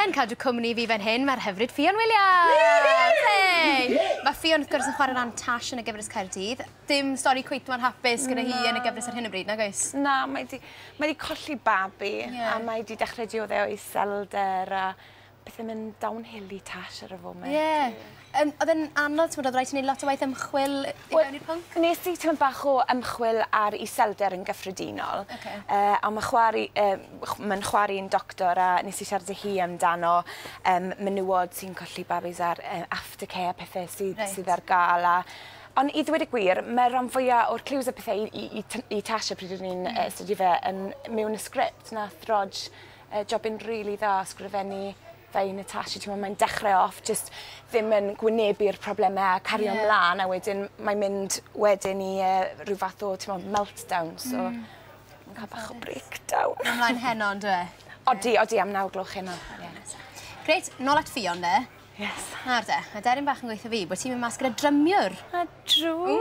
Yn cadw cwmni i fi fan hyn mae'r hyfryd Ffion Williams! Woohoo! Hei! Mae Ffion wrth gwrs yn chwarae ran Tash yn y gyfres Caerdydd. Dim stori cweit mor hapus gyda hi yn y gyfres ar hyn o bryd, nag oes? Na, mae 'di mae 'di colli babi... Ie. ...a mae 'di dechre diodde o iselder a pethe myn' down hill i Tash ar y foment. Ie. Yym oedd e'n anodd t'mod odd raid ti neud lot o waith ymchwil yy i mewn i'r pwnc? Wel nes i t'mod bach o ymchwil ar iselder yn gyffredinol. Oce. Yy a ma' chwa'r i- yy chw- ma'n chwa'r un doctor a nes i siarad â hi amdano yym menywod sy'n colli babis a'r yy after care a pethe sydd... Reit. ...sydd ar ga'l a on' i ddweud y gwir ma' ran fwya o'r cliws a pethe i i i T- i Tasha pryd o'n i'n yy astudio fe yn mewn y sgript nath Rog yy jobyn rili dda sgrifennu Fe i Natasha t'mo' mae'n dechre off jyst ddim yn gwynebu'r probleme a cario... Ie. ...mlan a wedyn mae'n mynd wedyn i yy ryw fath o t'mo' meltdown so... Hmm. ...ma'n ca'l bach o breakdown. Ma'n myn' mlan heno on'd yw e? Odi odi am naw gloch heno. Ie. Grêt, nôl at Ffion 'de. Yes. Nawr 'de, ma' deryn bach yn gweu' 'tho fi bo' ti myn' mas gyda drymiwr. A True!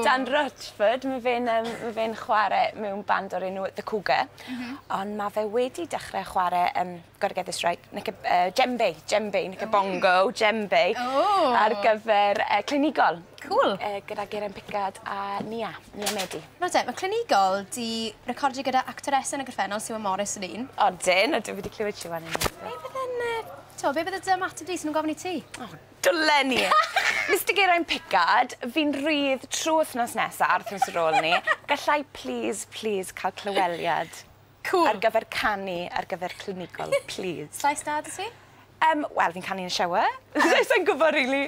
Dan Rutford, ma' fe'n yym ma' fe'n chware mewn band o'r enw The Cougar. M-hm. Ond ma' fe wedi dechre chware yym gotta get this right knick- yy djembe djembe knickabongo djembe. Ww! Ar gyfer yy clinigol. Cŵl. Yy gyda Geraint Pickard a Nia, Nia Medi. Nawr te, ma' clinigol 'di recordio gyda actores yn y gorffennol Siwan Morris yn un. Odyn, odyn fi 'di clywed Siwan yn un. Be' bydde'n yy t'o' be' bydde dy ymateb di 'sen nw'n gofyn i ti? O Dwlen ni! Mister Geraint Pickard, fi'n rhydd trwy wthnos nesa a'r wthnos ar ôl 'ny, gallai plîs, plîs cael clyweliad? Cŵl! Ar gyfer canu ar gyfer clinigol, plîs. Llais da 'da ti? Yym, wel fi'n canu yn y shower. Sai'n gwbo rili.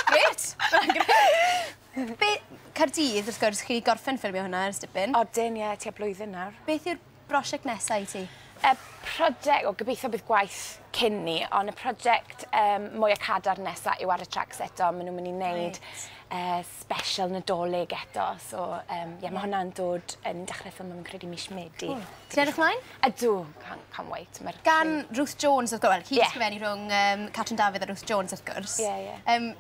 Grêt! Mae'n grêt. Be- Caerdydd wrth gwrs chi gorffen ffilmio hwnna ers dipyn. Odyn ie, tua blwyddyn nawr. Beth yw'r brosiect nesa i ti? Y project, wel gobeithio bydd gwaith cyn ni, ond y project um, mwyaf cadar nesaf yw ar y tracks eto. Maen nhw'n mynd i wneud right. uh, special nadolig eto. So, um, yeah, mae hwnna'n dod yn dechrau ffilm yn credu mis Medi. Cool. Ti'n edrych mlaen? Ydw, can't, can't wait. Mae'r Gan Ruth Jones, wrth gwrs, well, hi yeah. sgrifennu rhwng um, Catrin Dafydd a Ruth Jones, wrth gwrs. Yeah, yeah. Um,